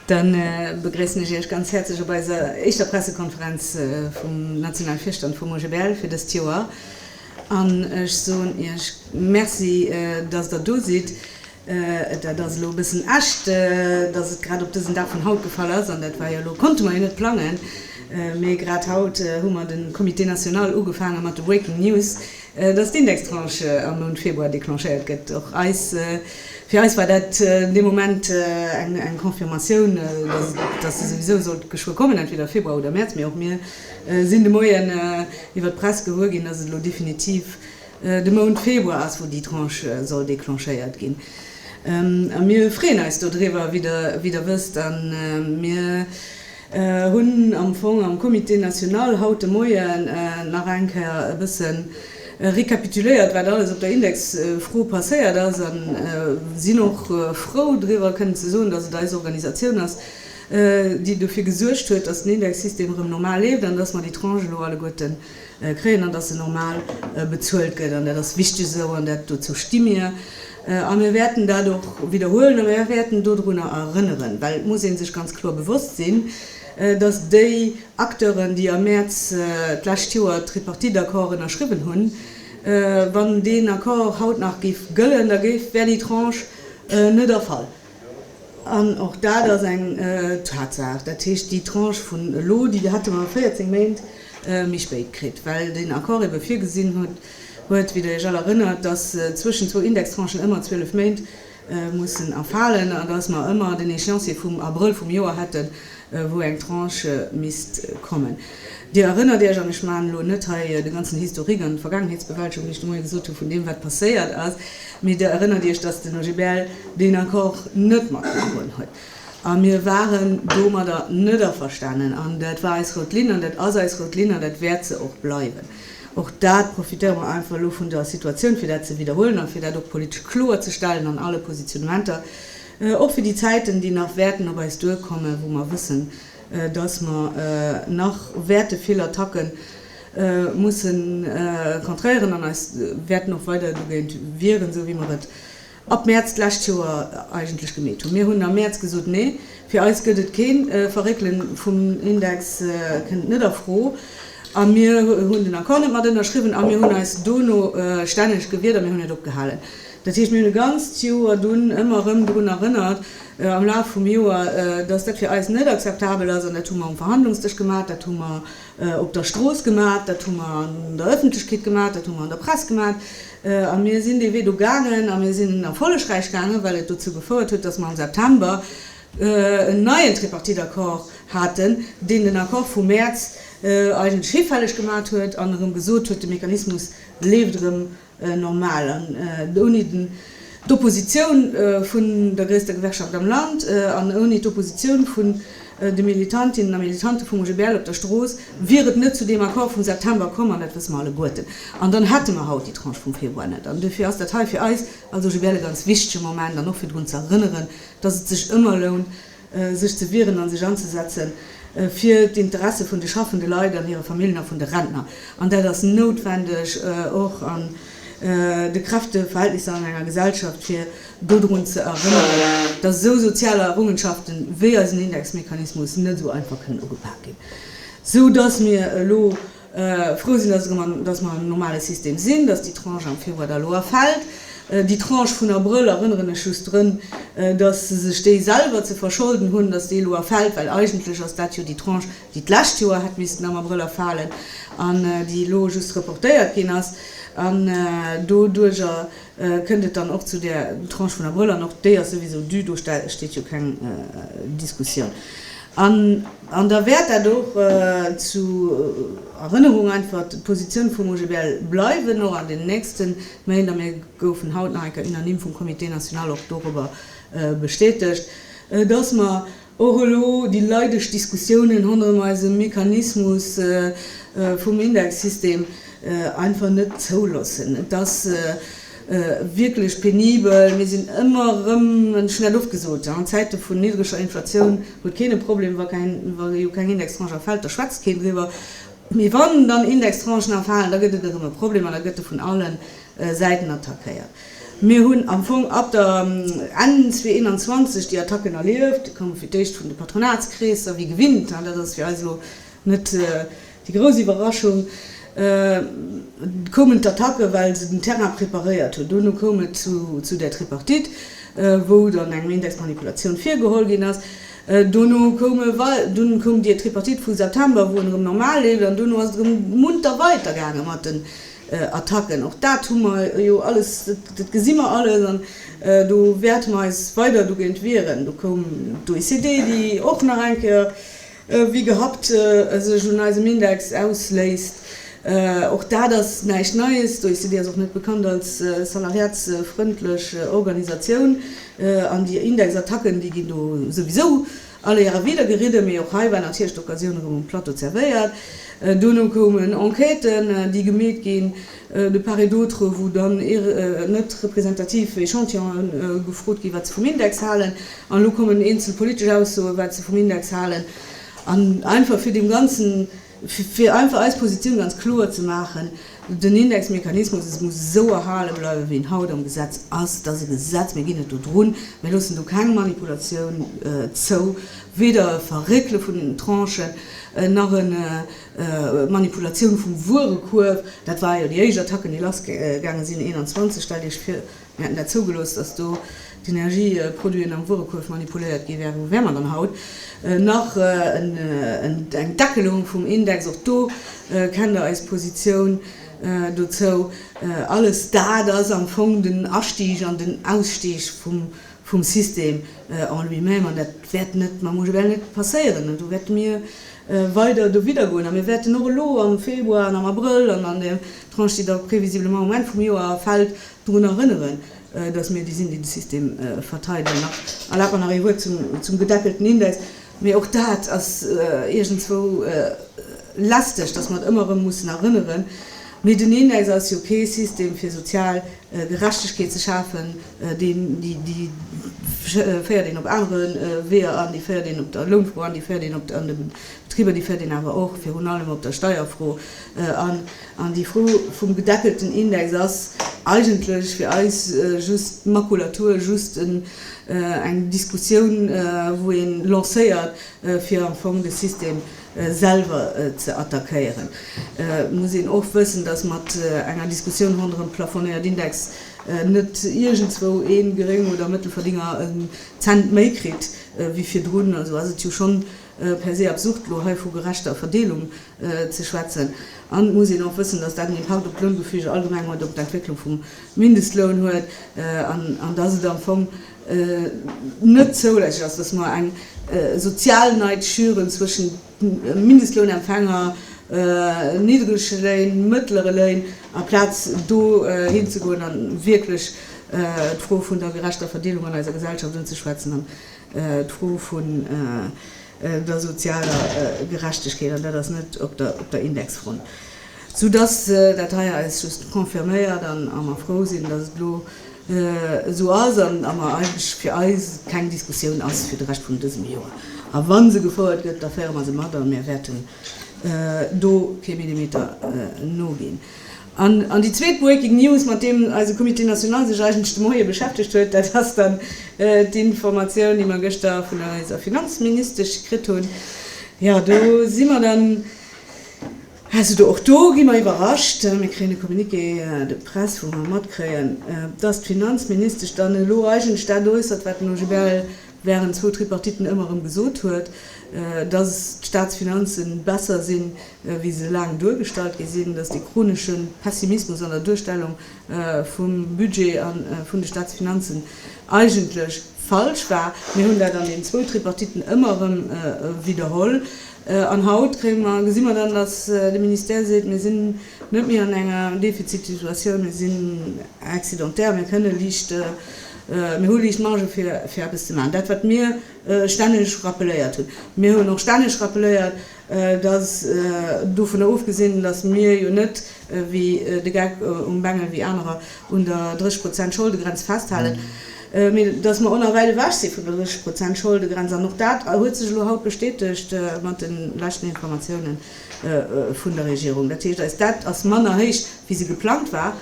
Dann begréissen ech Iech ganz häerzlech op eiser éischter Pressekonferenz vum nationale Virstand vum OGBL fir dëst Joer an ech soen Iech Merci, dass Der do sidd. Dat ass elo e bëssen echt, dass et grad op dësen Dag vun haut gefall ass, an dat war jo elo, konnte mer jo net plangen, mee grad haut hu mer de Comité national ugefaange mat de Breaking News, dass d'Indextranche am Mount Februar declenchéiert gëtt. Och eis, fir eis war dat dee Moment eng Confirmatioun, dass se souwisou sollt geschwë kommen, entweder Februar oder Mäerz, mee och mir sinn de Moien iwwert d'Press gewuer ginn, dass et elo definitiv De Mount Februar ass, wou déi Tranche soll declenchéiert ginn. A mir freeën eis dodriwwer, wéi Der wësst. A mir hunn am Fong am Comité national haut de Moien nach eng Kéier e bësse récapituléiert, wat alles op der Indexfro passéiert ass, a sinn och frou driwwer kënnen ze soen, dass et eis Organisatioun ass, déi dofir gesuergt huet, dass den Indexsystem erëm normal leeft an dass mer déi Tranche elo alleguerten kréien an datt se normal bezuelt gëtt. An dat ass wichteg esou an dat, dozou sti mir. A mir wäerten dat och widderhuelen a mir wäerten dodrunner erënneren, well et muss ee sech ganz kloer bewosst sinn, datt déi Acteuren, déi am Mäerz d'lescht Joer d'Tripartite-Accord ënnerschriwwen hunn, wann deen Accord haut nach géif gëllen, da géif, wär déi Tranche net erfall. An och dat ass eng Tatsaach. Dat heescht, déi Tranche vun elo, déi hätte mer 14 Méint méi spéit kritt, well den Accord ebe virgesinn huet, wéi Der Iech all erënnert, dass zwëschen zwou Indextranchen ëmmer 12 Méint mussen erfalen, an dass mer ëmmer den Échéancier vum Abrëll vum Joer hätten, wou eng Tranche misst kommen. Dir erënnert Iech, an ech maachen elo net hei de ganzen Historique an d'Vergaangenheetsbewältegung, wéi ech de Moie gesot hu vun deem, wat passéiert ass, mee Der erënnert Iech, datt den OGBL deen Accord net matgedroen huet. A mir waren domadder net averstanen. An dat war eis rout Linn an dat ass eis rout Linn an dat wäert se och bleiwen. Och dat profitéiere mer einfach elo vun der Situatioun, fir dat ze widderhuelen a fir dat och politesch kloerzestellen an alle Positionnementer, Och fir déi Zäiten, déi nach wäerten op eis duerkommen, wou mer wëssen, dass mer nach wäerte vill Attacke musse contréieren an eis wäerten och weider dogéint wieren, esou wéi mer et ab Mäerz d'lescht Joer eigentlech gemeet hunn. Mir hunn am Mäerz gesot, Nee, fir eis gëtt et kee Verréckele vum Index, kënnt net a Fro. A mir hunn den Accord net mat ënnerschriwwen a mir hunn eis dono stänneg gewiert a mir hunn et opgehalen. Dat heescht, mir hunn e ganzt Joer dunn ëmmer erëm drun erënnert, am Laf vum Joer, dass dat fir eis net akzeptabel ass. An dat hu mer um Verhandlungsdësch gemat, dat hu mer op der Strooss gemat, dat hu mer an der Ëffentlechkeet gemat, dat hu mer an der Press gemat. A mir sinn dee Wee do gaangen a mir sinn en erfollegräich gaangen, well et dozou gefouert huet, dass mer am September en neien Tripartite-Accord haten, deen den Accord vum Mäerz eigentlech hifälleg gemat huet an erëm gesot huet, de Mechanismus leeft erëm normal an ouni d'Oppositioun vun der gréisster Gewerkschaft am Land an ouni d'Oppositioun vun de Militantinnen a Militante vum OGBL op der Strooss wier et net zu deem Accord vum September komm, an dat wësse mer alleguerten. An dann hätte mer haut déi Tranche vum Februar net. An duerfir ass dat hei fir eis als OGBL e ganz wichtege Moment an och fir drun ze erënneren, dass et sech ëmmer lount, sech ze wieren a sech anzesetze fir d'Interesse vun de schaffende Leit an hire Familljen a vun de Rentner. An dat ass noutwendeg, och an de Kräfteverhältnisser an enger Gesellschaft, fir dodrun ze erënneren, dass esou sozial Errungenschafte wéi eisen Indexmechanismus net esou einfach kënnen ugepak ginn, esou dass mir elo frou sinn, dass mer an engem normale System sinn, dass déi Tranche am Februar der Loi fält. Déi Tranche vun Abrëll, erënneren ech just drun, dass se sech déi selwer ze verscholden hunn, dass déi Loi fält, well eigentlech ass dat jo déi Tranche, déi d'lescht Joer hätt missten am Abrël erfalen an déi elo just reportéiert ginn ass. An doduerjer Kënnt et dann och zu där Tranche vun Abrëll, an och déi ass souwisou due, do steet jo keng Diskussioun an, an da wäert dat och zu Erënnerung einfach d'Positioun vum OGBL bleiwen, och an den nächste Méint. A mir goufen haut nach eng Kéier unanime vum Comité national och dorobber bestätegt, dass mer, Och elo déi leideg Diskussiounen honnerem eise Mechanismus vum Indexsystem einfach net zouloossen. Et ass wierklech penibel. Mir sinn ëmmer erëm, hunn ech net oft gesot, an Zäite vun niddreger Inflatioun huet keen e Problem, wa jo keng Indextranche erfält, da schwätzt keen driwwer. Mee wann dann Indextranchen erfalen, da gëtt et erëm e Problem an da gëtt e vun allen Säiten attackéiert. Mir hunn am Fong ab der Enn 2021 déi Attacken erlieft. Déi komme fir d'éischt vun de Patronatskreesser, wéi gewinnt. Dat ass fir eis elo net déi grouss Iwwerraschung. Et koumen d'Attacke well se den Terrain preparéiert hunn. Dono koum et zu der Tripartite, wou dann engem Indexmanipulatioun virgeholl ginn ass. Dono koum e wei, dunn koum déi Tripartite vu September, wou en erëm normal leeft. An dono ass et erëm munter weider gaange mat den Attacken. Och dat hu mer jo alles, dat gesi mer alles an do wäerte mer eis weider dogéint wieren. Do koum d'OECD, déi och nach eng Kéier wéi gehappt sech un eisem Index ausléisst. Och dat ass näischt Neies. D'OECD ass och net bekannt als salariatsfrëndlech Organisatioun an déi Indexattacken, déi ginn do souwisou All Éier a Wieder geridde, mee och hei war natierlech d'Occasioun erëm um Plateau zerwéiert. Dono koumen Enquêten, déi gemeet ginn, de part et d'autre, wou dann net representativ Echantillonen gefrot ginn, wat se vum Index halen. An elo kommen eenzel politesch Aussoen, wat se vum Index halen. An einfach fir deem Ganzen. Fir einfach eis Positioun ganz kloer ze maachen, Den Indexmechanismus, et muss esou erhale bleiwen, wéi en haut am Gesetz ass. Et ass e Gesetz, mir ginn net dodrun, mir loossen do keng Manipulatioun zou, weder e Verréckele vun den Tranchen nach e Manipulatioun vum Wuerekuerf. Dat war jo déi éischt Attacken, déi lassgaange sinn 21. Stellt Iech vir, Mir hätten dat zougelooss, datt do d'Energieproduiten am Wuerekuerf manipuléiert gi wären. Wou wäre mer dann haut? Nach eng Deckelung vum Index, och do kennt Der eis Positioun dozou. Alles dat ass am Fong den Astig an den Ausstig vum System en lui-même. An dat wäert net mam UGBL net passéieren. Do wäerte mir weider dowidder goen. A mir wäerten och elo am Februar an am Abrëll an an der Tranche, déi da previsiblement um Enn vum Joer fält, Drun erënneren, datt mir déi sinn, déi de System verteidelen. Nach erlaabt mer nach ee Wuert zum gedeckelten Index. Mee och dat ass iergendzwou lästeg, datt mer et ëmmer erëm mussen erënneren. Mee den Index ass jo kee System fir sozial Gerechtegkeet ze schafen, déi féiert een op anere Weeër an. Déi féiert een op der Lounfro an, déi féiert een an de Betriber, déi féiert een awer och virun allem op der Steierfro an. An déi Fro vum gedeckelten Index ass eigentlech fir eis just Makulatur, just eng Diskussioun, wou ee lancéiert, fir am Fong de System selwer ze attackéieren. Et muss een och wëssen, dass mat enger Diskussioun ronderëm plafonéiert Index net iergendzwou ee Geréng oder Mëttelverdénger en Cent méi kritt wéi virdrun. Also ass et jo schonn per se absurd, elo hei vu gerechter Verdeelung ze schwätzen. An et muss een och wëssen, dass dat en Impakt op d'Loungefüge allgemeng huet, op d'Entwécklung vum Mindestloun huet an dass et am Fong net zoulässeg ass, dass mer eng sozial Neid schüren zwëschen Mindestlounempfänger, niddrege Léin, mëttlere Léin, aplaz do hinzegoen a wierklech d'Fro vun der gerechter Verdeelung an eiser Gesellschaft unzeschwätzen. D'Fro vun der sozialer Gerechtegkeet, an dat ass net op der Indexfront. Soudass dat hei eis just confirméiert a mer frou sinn, dass et elo esou ass a mer eigentlech fir eis keng Diskussioun ass fir de Rescht vun dësem Joer. A wa se gefouert gëtt, da féiere mer se mat a mir wäerten do kee Millimeter noginn. An déi zweet Breaking News, mat deem eise Comité national sech eigentlech de Moie beschäftegt huet, dat ass dann d'Informatioun, déi mer gëschter vun eiser Finanzministesch kritt hunn. Jo, do si mer dann, also do, och do gi mer iwwerrascht, mir kréien e Communiqué de presse, wou mer matkréien, dass d'Finanzministesch dann elo eigentlech dat äussert, wat den OGBL während zwou Tripartiten ëmmer erëm gesot huet, dass d'Staatsfinanze besser sinn, wéi se laang duergestallt gi sinn, dass dee chronesche Pessimismus an der Duerstellung vum Budget a vun de Staatsfinanzen eigentlech falsch war. Mir hunn dat an den zwou Tripartiten ëmmer erëm widderholl. An haut kréie mer, gesi mer dann, dass de Ministère seet, Mir sinn net méi an enger Defizitsituatioun, mir sinn excédentaire, mir kënne liicht Mir hu liicht Marge fir eppes ze maachen. Dat wat mir stänneg rappeléiert hunn. Mir hunn och stänneg rappeléiert, datt dovunner ofgesinn, datt mir jo net wéi de Geck um Bengel, wéi anerer, un der 30 Prozent Scholdegrenz festhalen, mee datt mer och nach wäit ewech si vun der 30 Prozent Scholdegrenz. An och dat huet sech elo haut bestätegt mat de leschten Informatiounen vun der Regierung. Dat heescht, eis Dett ass manner héich wéi se geplangt war.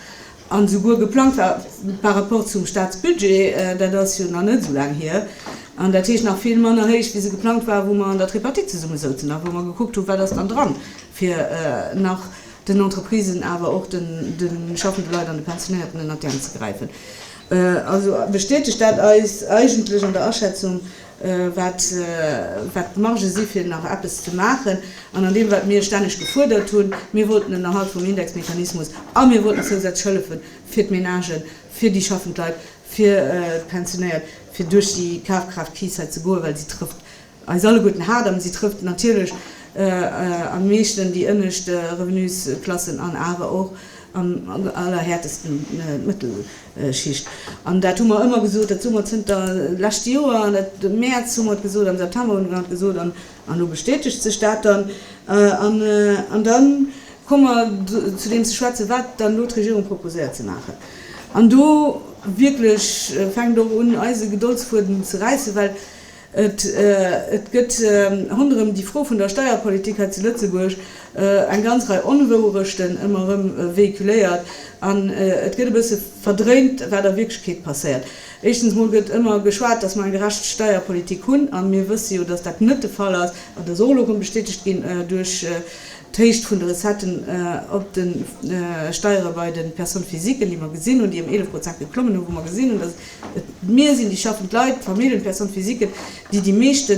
an esouguer geplangt war par rapport zum Statsbudget, dat ass jo nach net esou laang hier, an dat heescht nach vill manner héich wéi se geplangt war, wou mer an der Tripartite zesummesouzen a wou mer gekuckt hu wat ass dann dran, fir nach den Entreprisen, awer och de schaffende Leit an de Pensionéierten ënnert d'Äerm ze gräifen. Also bestätegt dat eis eigentlech an der Aschätzung, wat d'Margë si fir nach eppes ze maachen, an an deem wat mir stänneg gefuerdert hunn, mir wollten den Erhalt vum Indexmechanismus a mir wollten zousätzlech Hëllefe fir d'Menagen, fir déi schaffend Leit, fir d'Pensionéiert, fir duerch déi Kafkraaft-Kris hei ze goen, well si trëfft eis alleguerten haart a si trëfft natierlech am meeschten déi ënnescht Revenusklassen an awer och am allerhäertesten d'Mëttel. Schicht. An dat hu mer ëmmer gesot, dat soe mer zënter leschte Joer, an dat am Mäerz hu mer et gesot, am September hu mer et gesot an elo bestätegt sech dat dann. An da komme mer zu deem ze schwätzen, wat dann elo d'Regierung proposéiert ze maachen. An do wierklech fänkt och un eise Gedoldsfuedem ze räissen, well Et gëtt ronderëm déi Fro vun der Steierpolitik hei zu Lëtzebuerg eng ganz Rei Onwouerechten ëmmer erëm véhiculéiert an et gëtt e bësse verdréint, wat a Wierklechkeet passéiert. Éischstens emol gëtt ëmmer geschwat, dass mer eng gerecht Steierpolitik hunn, a mir wësse jo, dass dat net de Fall ass, an dat ass och elo erëm bestätegt ginn duerch d'Héicht vun de Recetten op de Steiere bei de Personnes physiquen, déi mer gesinn hunn, déi ëm 11 Prozent geklommen hunn, wou mer gesinn hunn, dass et Mir sinn déi schaffend Leit, d'Familljen, d'Personne physiquen, déi déi meeschte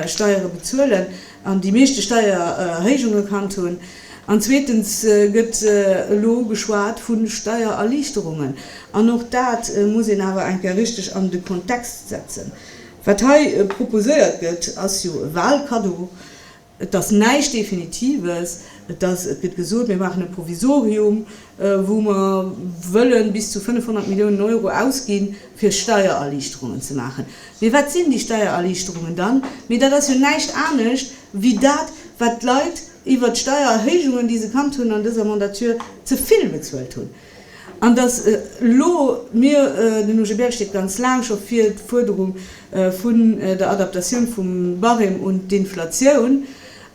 Steiere bezuelen an déi meeschte Steiererhéijung gekannt hunn. An zweetens gëtt elo geschwat vu Steiererliichterungen. An och dat muss een awer eng Kéier richteg an de Kontext setzen. Wat hei proposéiert gëtt, ass jo e Wahlkaddo. Et ass näischt Definitives. Et ass, et gëtt gesot, mir maachen e Provisorium, wou mer wëlle bis zu 500 Milliounen Euro ausginn, fir Steiererliichterungen ze maachen. Mee wat sinn déi Steiererliichterungen dann? Mee dat ass jo näischt anescht wéi dat, wat d'Leit iwwert d'Steiererhéijungen, déi se kannt hunn an dëser Mandature, ze vill bezuelt hunn. An datt elo mir, den UGBL steet ganz laang scho fir d'Fuerderung vun der Adaptatioun vum Barème un d'Inflatioun,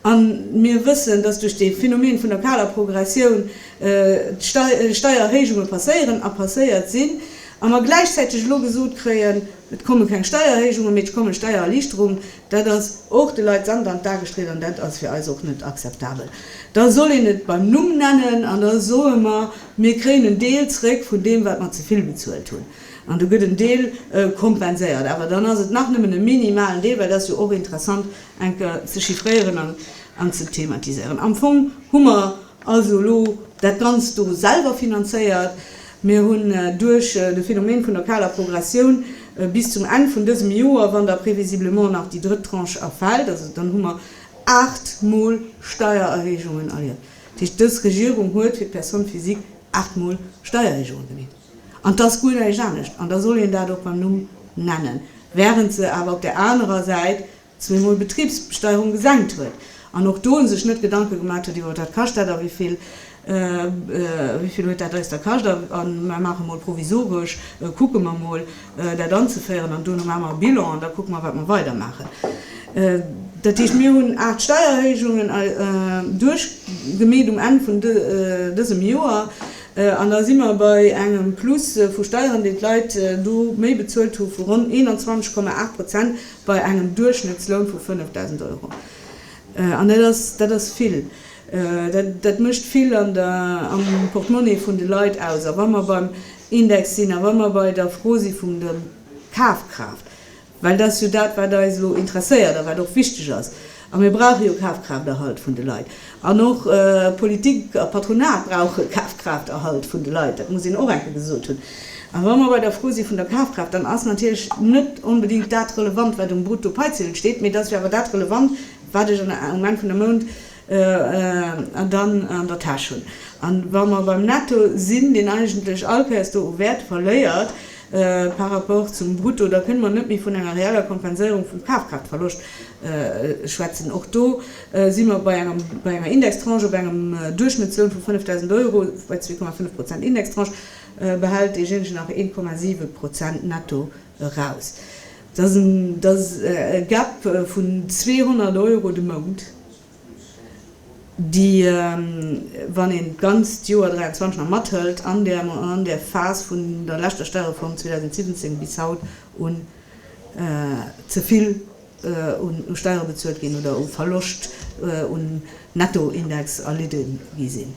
a mir wëssen, datt duerch dee Phenomen vun der kaler Progressioun Steiererhéijunge passéieren a passéiert sinn, a mer gläichzäiteg elo gesot kréien, et komme keng Steiererhéijungen, mee et kommen Steiererliichterungen. Dat ass och de Leit Sand an d'A gestrich an dat ass fir eis och net akzeptabel. Da soll een et beim Numm nennen an da soe mer, mir kréien en Deel zréck vun deem wat mer ze vill bezuelt hunn an do gëtt en Deel kompenséiert. Awer dann ass et nach nëmmen e minimalen Deel, well et ass jo och interessant eng Kéier ze chiffréieren an ze thematiséieren. Am Fong hu mer. Also elo dat Ganzt do selwer finanzéiert. Mir hunn duerch de Phenomen vun der kaler Progressioun bis zum Enn vun dësem Joer, wann da prévisiblement nach déi drëtt Tranche erfält, also dann hu mer aacht Mol Steiererhéijungen erlieft. Dat heescht, dës Regierung huet fir d'Personne physique aacht Mol Steierhéijungen gemeet. An et ass guer näischt anescht, an da soll een dat och beim Numm nennen, während se awer op där anerer Säit zweemol d'Betribsbesteierung gesenkt huet an och do sech net Gedanke gemaat huet iwwer wat kascht dat a wéivill wéivill huet dat eis da kascht a mer maache mol provisoresch, kucke mer mol dat anzeféieren an duerno maache mer e Bilan an da kucke mer wat mer weidermaachen. Dat heescht, mir hunn aacht Steiererhéijungen duerchgemeet um Enn vun dësem Joer an da si mer bei engem Plus vu Steieren, déi d'Leit do méi bezuelt hu vu ronn 21,8 Prozent, Bei engem Duerchschnëttsloun vu 5.000 Euro. An dat ass vill. Dat mécht vill am Portemonnaie vun de Leit aus. A wa mer beim Index sinn a wa mer bei der Fro si vum der Kafkraaft, well dat ass jo dat, wat eis elo interesséiert a wat och wichteg ass, A mir brauche jo Kafkrafterhalt vun de Leit. An och Politik a Patronat brauche Kafkrafterhalt vun de Leit. Dat muss een och eng Kéier gesot hunn. A wa mer bei der Fro si vun der Kafkraaft, dann ass natierlech net onbedéngt dat relevant, wat um Bruttopaizidel steet, mee et ass jo awer dat relevant, wat ech um Enn vun der Mount dann an der Täsch hunn. A wa mer beim Netto sinn, deen eigentlech all Kéiers do u Wäert verléiert, Par rapport zum Brutto, da kënne mer net méi vun enger reeller Kompenséierung vum Kafkraaftverloscht schwätzen. Och do si mer bei enger Indextranche, bei engem Duerchschnëttsloun vu 5.000 Euro, bei 2,5 Prozent Indextranche behält deejéinegen nach 1,7 Prozent netto eraus. Dat ass e Gap vun 200 Euro de Mount. déi, wann een d'ganzt Joer 23 nach mathëlt, an där mer an där Phas vun der leschter Stäreform 2017 bis haut un ze vill un Steiere bezuelt ginn oder u Verloscht un Nettoindex erlidde gi sinn.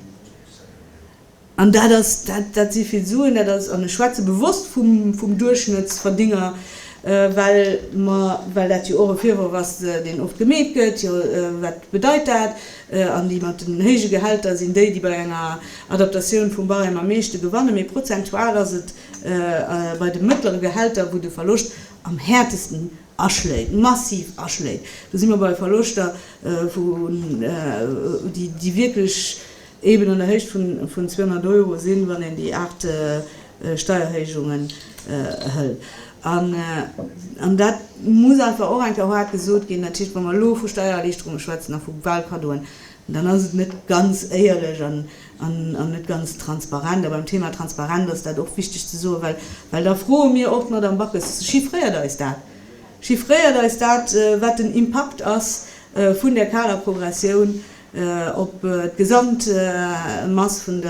An dat ass, dat si vill Suen, dat ass, an ech schwätze bewosst vum Duerchschnëttsverdinger, well mer, well dat jo och e Virworf ass, deen oft gemeet gëtt, jo wat bedeit dat? An déi mat den héije Gehälter sinn déi, déi bei enger Adaptatioun vum Barème am meeschte gewanne, mee prozentual ass et bei de mëttlere Gehälter, wou de Verloscht am häertesten aschléit, massiv aschléit. Do si mer bei Verloschter, déi wierklech eben an der Héicht vun 200 Euro sinn, wann een déi aacht Steierhéijungen hëlt. An dat muss einfach och eng Kéier haart gesot ginn. Dat heescht, wa mer elo vu Steiererliichterunge schwätzen a vu Wahlkaddoen, dann ass et net ganz éierlech an net ganz transparent. A beim Thema Transparenz ass dat och wichteg ze soen, well da froe mir och d'Madame Backes, Chiffréiert eis dat! Chiffréiert eis dat, wat den Impakt ass vun där Kaderprogressioun op d'Gesamtmass vun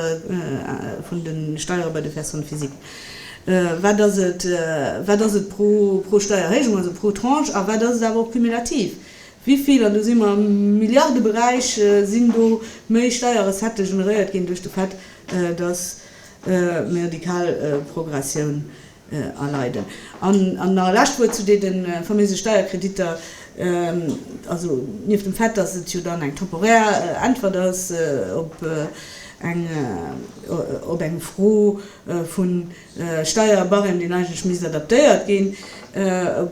de Steiere bei de Personnes physiques, wat ass et, wat ass et pro Steiererhéijung, also pro Tranche, a wat ass et awer och cumulativ, wivill, an do si mer am Milliardeberäich, sinn do méi Steierrecettë generéiert ginn duerch de Fait, datt mir déi kal Progressioun, erleiden. An nach e lescht Wuert zu deene faméise Steierkreditter. Also nieft dem Fait, dass et jo dann eng temporär Äntwert ass op eng Fro vum Steierbarème, deen eigentlech misst adaptéiert ginn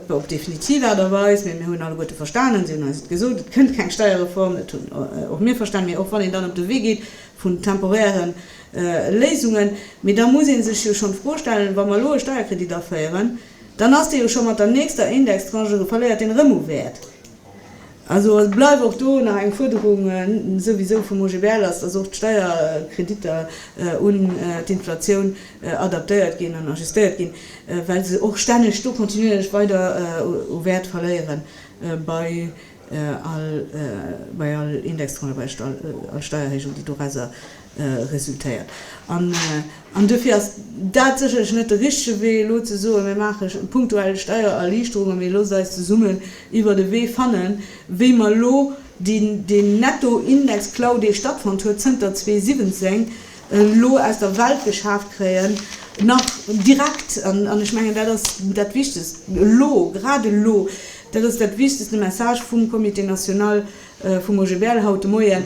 op definitiv Aart a Weis, mä mir hunn alleguerte verstanen, si hunn eis et gesot, et kënnt keng Steierreform, dat hunn och mir verstanen, mä och wann een dann op de Wee geet vun temporären Léisungen. Mee da muss ee sech jo schonn d'Fro stellen, Wa mer elo e Steierkredit aféieren, dann ass dee jo scho mat der nächster Indextranche, verléiert deen erëm u Wäert. Also et bleift och do nach eng Fuerderung souwisou vum OGBL, ass, datt och d'Steierkreditter un d'Inflatioun adaptéiert ginn an ajustéiert ginn, well se och stänneg do kontinuierlech weider u Wäert verléieren. Bei. bei all Indextrendebrecht, all Steiererhéijung, déi dorausser resultéiert. An duerfir ass dat sécherlech net de richtege Wee, elo ze soen, mir maache punktuell Steiererliichterungen, mee loosst eis zesummen iwwert e Wee fannen, wéi mer elo deen Nettoindexklau, dee stattfonnt huet zënter 2017, elo aus der Welt geschaaft kréien, nach direkt, an ech mengen, dat ass dat Wichtegst elo, grad elo, dat ass dat Wichtegst, de Message vum Comité national vum OGBL haut de Moien,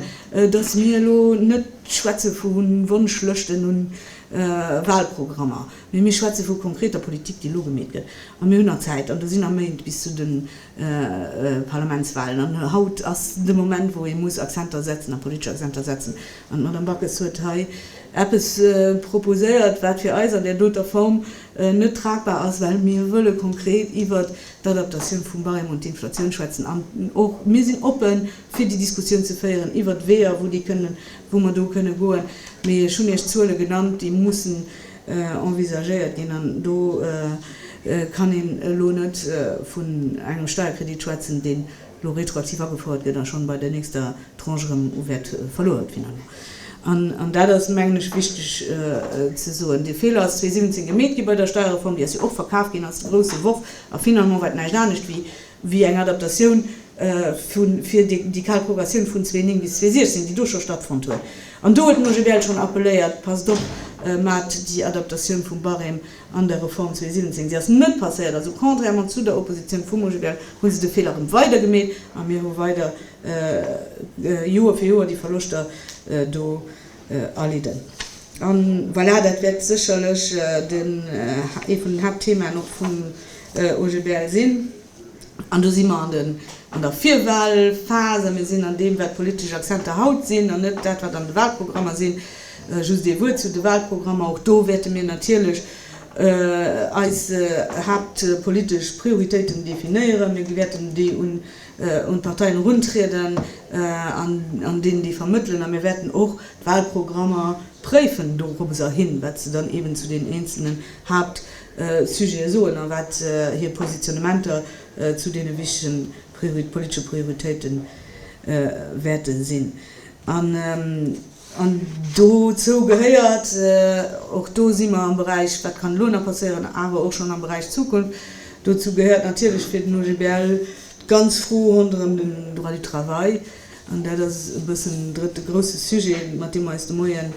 dass mir elo net schwätze vu Wonschlëschten un Wahlprogrammer, mee mir schwätze vu konkreter Politik, déi elo gemeet gëtt. A mir hunn nach Zäit, an do sinn nach Méint bis zu de Parlamentswahlen, an haut ass de Moment, wou ee muss Accenter setzen, a politesch Accenter setzen. An d'Madame Backes huet hei eppes proposéiert, wat fir eis an där doter Form net tragbar ass, well mir wëlle konkret iwwer d'Adaptatioun vum Barème un d'Inflatioun schwätzen. An och mir sinn oppe fir déi Diskussioun ze féieren iwwer d'Weeër, wou déi kënnen, wou mer do kënne goen. Mee ech hunn Iech Zuele genannt, déi mussen envisagéiert ginn. An do kann een elo net vun engem Steierkredit schwätzen, deen elo retroaktiv agefouert gëtt a schonn bei der nächster Tranche erëm u Wäert verluer huet finalement. An, an dat ass, mengen ech, wichteg ze soen, dee Feeler ass 2017 gemeet gi bei der Steierreform, déi ass jo och verkaf ginn als de grousse Worf a finalement war et näischt anescht wéi, wéi eng Adaptatioun vu fir déi, déi kal Progressioun vun 2009 bis 2016, déi do scho stattfonnt huet. An do huet den OGBL schonn appelléiert, passt op, maacht déi Adaptatioun vum Barème An der Reform 2017, déi ass net passéiert, also contrairement zu der Opposition vum OGBL, hu se de Feeler erëm weider gemeet a mir hu weider Joer fir Joer déi Verloschter do erlidden. A voilà, dat wäert sécherlech ee vun den Haaptthemaen och vum OGBL sinn. An do si mer an der Virwahlphas a mir sinn an deem, wat d'politesch Accenter haut sinn an net dat, wat an de Wahlprogrammer sinn. Just ee Wuert zu de Wahlprogrammer, Och do wäerte mir natierlech eis haaptpolitesch Prioritéiten definéieren. Mir wäerten déi un d'Parteien eruntrieden an deenen déi vermëttelen. A mir wäerten och d'Wahlprogrammer préifen dorobber hin, wat se dann eeben zu den eenzelnen Haaptthemen Sujete soen a wat hir Positionnementer zu deene wichtegen politesche Prioritéite wäerte sinn. An dozou gehéiert, och do si mer am Beräich wat kann elo nach passieren, awer och schonn am Beräich Zukunft, dozou gehéiert natierlech fir den OGBL d'ganz Fro ronderëm den Droit du travail. An dat ass e bëssen drëtte grousse Sujet, mat deem mer eis de Moien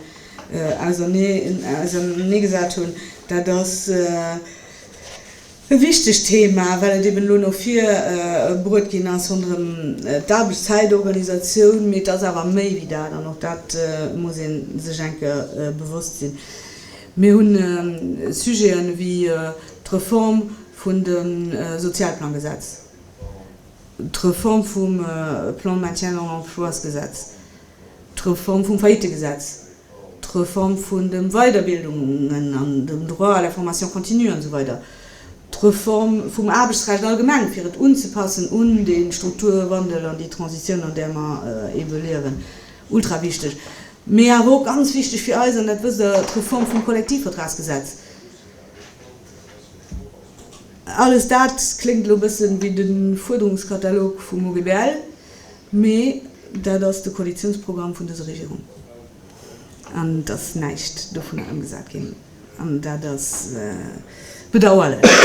auserneegesat hunn. Dat ass e wichtegt Thema, well et eben elo no vir bruet ginn ass ronderëm d'Aarbechtszäitorganisatioun, mee et ass awer méi wéi dat an och dat muss ee sech eng Kéier bewosst sinn. Mir hu Sujete wéi d'Reform vun dem Sozialplangesetz, d'Reform vum Plan de maintien dans l'emploi-sgesetz, d'Reform vum Faillitegesetz, d'Reform vun dem Weiderbildungen an dem Droit à la formation continue an esou weider, d'Reform vum Aarbechtsrecht allgemeng, fir et unzepassen un dee Strukturwandel an déi Transitioun, an där mer ebe liewen, ultrawichteg. Mee awer och ganz wichteg fir eis, an dat wësst Der, d'Reform vum Kollektivvertragsgesetz. Alles dat kléngt elo e bëssen wéi de Fuerderungskatalog vum OGBL. Mee dat ass de Koalitiounsprogramm vun dëser Regierung, an et ass näischt dovunner ëmgesat ginn. An dat ass bedauerlech,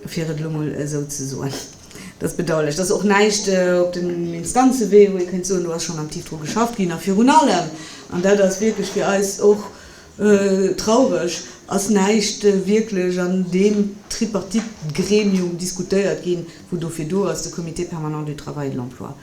fir et elo mol esou ze soen. Dat ass bedauerlech. Et ass och näischt op dem Instanzewee, wou ee kéint soen, do ass schonn aktiv dru geschafft ginn. A virun allem, an dat ass wierklech fir eis och Traureg ass näischt wierklech an deem Tripartite-Gremium diskutéiert ginn, wou dofir do ass, de Comité permanent du travail et de l'emploi.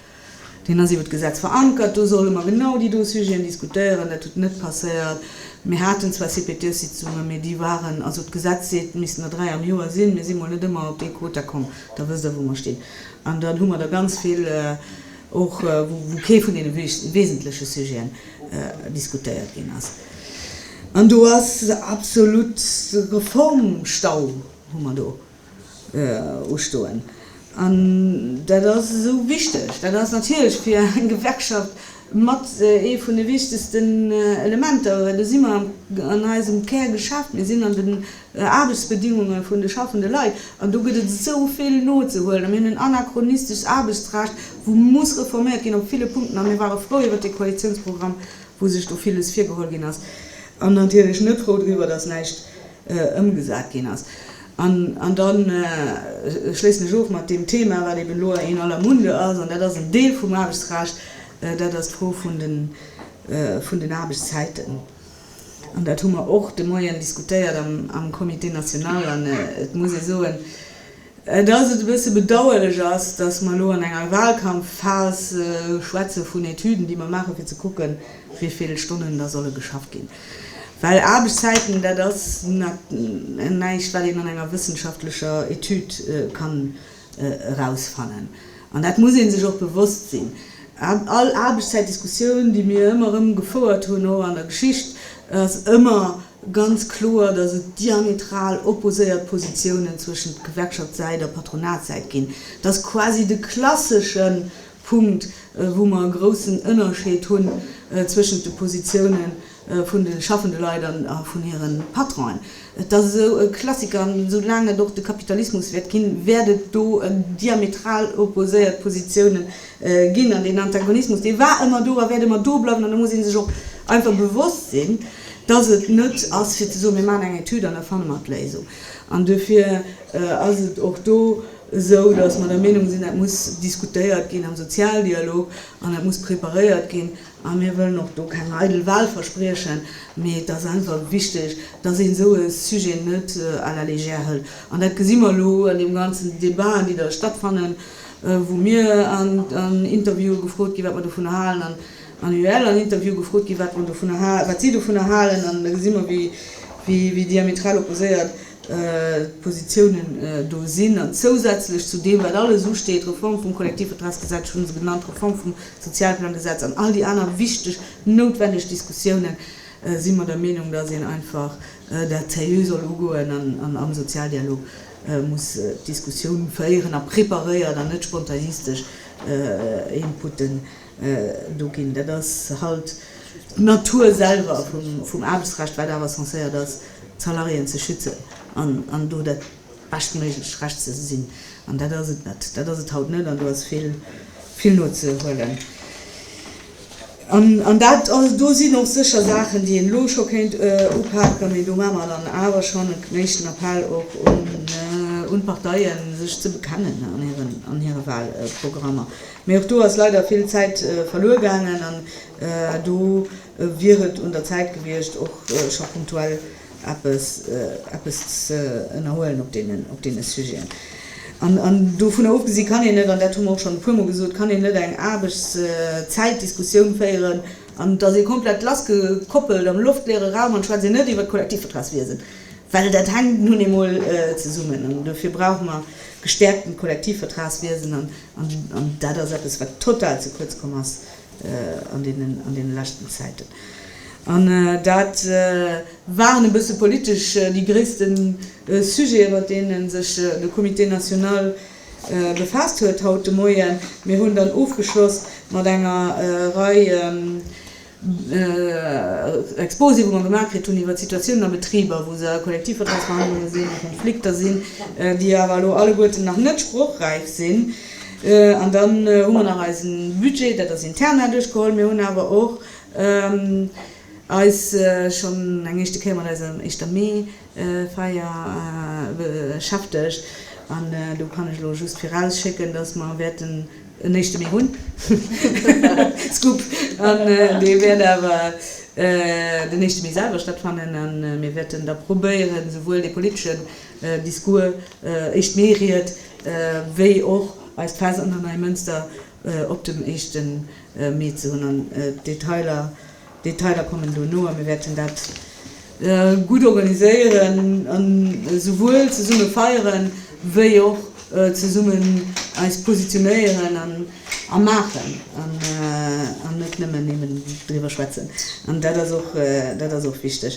Deen ass iwwert d'Gesetz verankert, do solle mer genau déi do Sujeten diskutéieren. Dat huet net passéiert. Mir haten zwar CPTS-Sitzungen, mee déi waren, also d'Gesetz seet, et missten der dräi am Joer sinn, mir si mol net ëmmer op dee Quota komm. Da wësst Der, wou mer stinn. An dann hu mer der ganz vill, Och wou kee vun deene wesentleche Sujeten diskutéiert ginn ass. An do ass absolut e Reformstau, hu mer do ustoen. An dat ass esou wichteg. Dat ass natierlech fir eng Gewerkschaft mat ee vun de wichtegsten Elementer, well do si mer an eisem Kärgeschäft, mir sinn an de. Aarbechtsbedingunge vun de schaffende Leit. An do gëtt et esou vill nozehuelen. A mir hunn en anachronistescht Aarbechtsrecht, wou muss reforméiert ginn op ville Punkten. A mir ware frou iwwert dee Koalitiounsprogramm, wou sech do villes virgeholl ginn ass, an natierlech net frou driwwer, datt näischt ëmgesat ginn ass. An da schléissen ech of mat deem Thema, wat eben elo in aller Munde ass, an dat ass en Deel vum Aarbechtsrecht, dat ass d'Fro vun den Aarbechtszäiten. An dat hu mer och de Moien diskutéiert am Comité national. An et muss ee soen, dass et e bësse bedauerlech ass, dass mer elo an enger Wahlkampfphas schwätze vun Etüden, déi mer maachen, fir ze kucken, wéi vill Stonnen da solle geschafft ginn. Well Aarbechtszäiten, dat ass näischt, wat een an enger wëssenschaftlecher Etüd ka erausfannen. An dat muss ee sech och bewosst sinn. All Aarbechtszäitdiskussioun, déi mir ëmmer erëm gefouert hunn, och an der Geschicht, ass ëmmer ganz kloer, datt et diametral opposéiert Positiounen zwëschent Gewerkschaftssäit a Patronatssäit ginn. Dat ass quasi de klassesche Punkt, wou mer e groussen Ënnerscheed hunn zwëschent de Positiounen vun de schaffende Leit a vun hire Patronen. Et ass esou e Klassiker, an esou laang et och de Kapitalismus wäert ginn, wäert et do diametral opposéiert Positiounen ginn. An deen Antagonismus, dee war ëmmer do a wäert ëmmer do bleiwen. An do muss ee sech och einfach bewosst sinn, dass et net ass fir ze soen, mir maachen eng Etüd an da fanne mer d'Léisung. An duerfir ass et och do esou, dass mer der Meenung sinn, dat muss diskutéiert ginn am Sozialdialog an dat muss preparéiert ginn A mir wëllen och do keng eidel Wahlverspriechen, mee et ass einfach wichteg, dass een esou e Sujet net à la légère hëlt. An dat gesi mer elo an deem ganzen Débaten, déi da stattfannen, wou mir an Interviewe gefrot ginn, wat mer dovunner halen, an an UEL an Interviewe gefrot ginn, wat si dovunner halen, an da gesi mer, wéi diametral opposéiert. D'Positiounen do sinn. An zousätzlech zu deem, wat alles usteet, d'Reform vum Kollektivvertragsgesetz, ech hunn se genannt, d'Reform vum Sozialplangesetz an all déi aner wichteg, noutwenneg Diskussiounen, si mer der Meenung, datt een einfach dat seriö soll ugoen an am Sozialdialog muss d'Diskussioun féieren a preparéiert an net spontanistesch Inputen do ginn. Dat ass halt d'Natur selwer vum Aarbechtsrecht, wat awer censéiert ass, d'Salariéen ze schützen an do dat beschtméiglecht Recht ze sinn. An dat ass et net. Dat ass et haut net an do ass vill, vill nozehuelen. An dat do sinn och sécher Saachen, déi een elo scho kéint upaken. Mee do maache mer dann awer schonn en éischten Appell och un d'Parteien, sech ze bekennen an hiren, an hire Wahlprogrammer. Mee och do ass leider vill Zäit verluer gaangen an do wier et un der Zäit gewiescht, och scho punktuell eppes ze ënnerhuelen op deene Sujeten. An dovunner ofgesi kann een net, an dat hu mer och schonn e puermol gesot, kann een net eng Aarbechtszäitdiskussioun féieren an et ass ee komplett lassgekoppelt am loftleere Raum an schwätzt een net iwwert d'Kollektivvertragswiesen, well dat hänkt nun eemol zesummen. An dofir brauche mer gestäerkten Kollektivvertragswiesen. An dat ass eppes, wat total ze kuerz komm ass an deene leschten Zäiten. An dat waren e bësse politesch déi gréisste Sujete mat deene sech de Comité national befaasst huet haut de Moien. Mir hunn dann ofgeschloss mat enger Rei Exposé, wou mer gemaach kritt hunn iwwert Situatiounen a Betriber, wou se a Kollektivvertragsverhandlunge sinn, a Konflikter sinn, déi awer elo alleguerten nach net sprochräif sinn. An dann hu mer nach eise Budget, dat ass interna, duerchgeholl. Mir hunn awer och eis schonn eng éischte Kéier mat eiser éischter Mme Feier beschäftegt an do kann ech elo just virausschécken, dass mer wäerten en éischte Mee hunn, Scoop, an dee wäert awer den éischte Mee selwer stattfannen a mir wäerten da probéieren, souwuel de politeschen Discours, éischt Mee-Ried, wéi och eist Fest an der Neimënster op dem éischte Mee ze hunn an d'Detailer, Detailer kommen dono a mir wäerten dat gutt organiséieren a souwuel zesumme feieren, wéi och zesummen eis positionéieren a maachen an net nëmmen eben driwwer schwätzen. An dat ass och, dat ass och wichteg.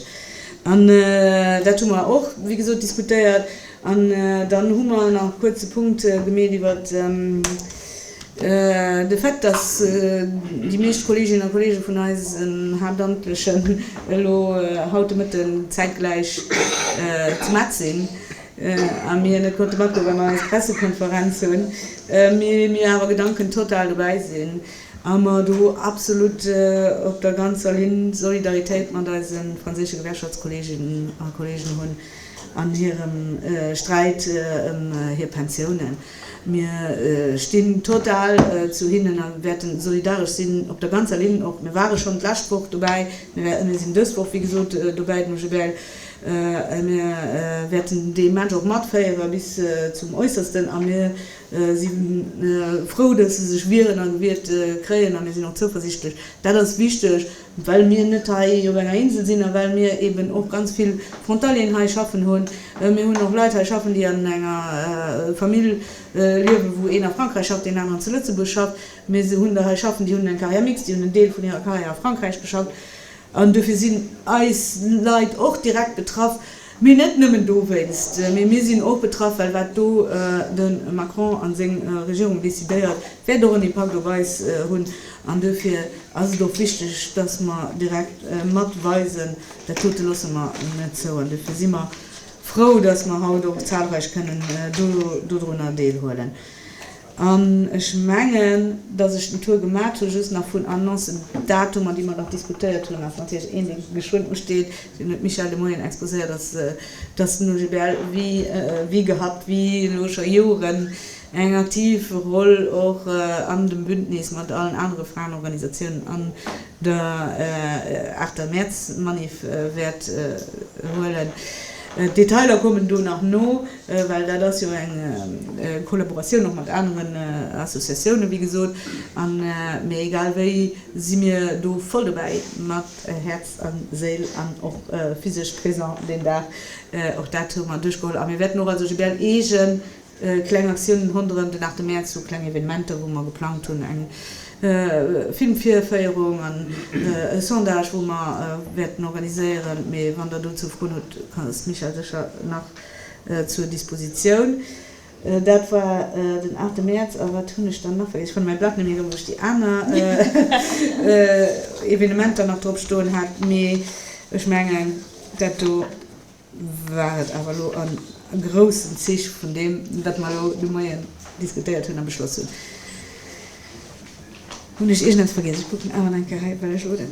An dat hu mer och, wéi gesot, diskutéiert. An dann hu mer nach e kuerze Punkt gemeet iwwer de Fait, dass déi meescht Kolleeginnen a Kolleege vun eisen Haaptamtlechen elo haut de Mëtte zäitgläich zu Metz sinn a mir net konnte matgoen, well mer eis Pressekonferenz hunn, mee mir awer gedankentotal dobäi sinn a mer do absolut op der ganzer Linn Solidaritéit mat eise franséische Gewerkschaftskolleeginnen a kolleegen hunn. an hirem Sträit ëm hir Pensiounen. Mir stinn total zu hinnen a wäerten solidaresch sinn op der ganzer Linn op. Mir ware schonn d'lescht Woch dobäi, mir sinn dës Woch, wéi gesot, dobäi dem GBL a mir wäerten dee Match och matféiere bis zum Äussersten. A mir si frou, datt se sech wieren a gewiert kréien a mir sinn och zouversichtlech. Dat ass wichteg, well mir net hei op enger Insel sinn a well mir eeben och ganz vill Frontalieren hei schaffen hunn. Mir hunn och Leit hei schaffen, déi an enger Famill liewen, wou een a Frankräich schafft, deen aneren zu Lëtzebuerg schafft. Mir hunn der hei schaffen, déi hunn eng Carrière mixte, déi hunn en Deel vun hirer Carrière a Frankräich geschafft an dofir sinn eis Leit och direkt betraff. Mee net nëmmen dowéinst, mee mir sinn och betraff, well wat do de Macron a seng Regierung decidéiert, wäert och en Impakt op eis hunn. An duerfir ass et och wichteg, datt mer direkt mat weisen, dat dote loosse mer net zou. An duerfir si mer frou, datt mer haut och zahlreich kënnen dodrunner deelhuelen. An ech mengen, datt ech den Tour gemat hu just nach vun Annoncen, Datumer, déi mer nach diskutéiert hunn. A wann Iech een Ding geschwënn usteet, deen huet d'Michèle de Moien exposéiert, ass, datt den OGBL wéi gehabt, wéi elo scho Joren, eng aktiv Roll och an dem Bündnis mat allen anere Fraenorganisatiounen an der aachter Mäerzmanif wäert huelen. D'Detailer kommen do nach no. well dat ass jo eng Kollaboratioun och mat aneren Associatiounen, wéi gesot, a mee egal wéi si mir do voll dobäi mat Häerz a Séil an och physesch présent deen Dag. Och dat hu mer duerchgeholl a mir wäerten och als OGBL eege kleng Aktiounen ronderëm den 8 Mäerz hu, kleng Evenementer, wou mer geplangt hunn, eng Filmvirféierung an e Sondage, wou mer wäerten organiséieren. Mee wann Der dozou Froen hutt, ass d'Michèle sécher nach. zur Dispositioun. Dat war den 8 Mäerz. A wat hunn ech dann nach vergiess? Ech fanne mäi Blat net méi erëm, wou ech déi aner Evenementer nach drop stoen hat. Mee ech mengen, dat do war et awer elo a groussen Zich vun deem, wat mer elo de Moien diskutéiert hunn a beschloss hunn. Hunn ech iergendepps vergiess? Ech kucken awer nach eng Kéier hei, well ech elo den.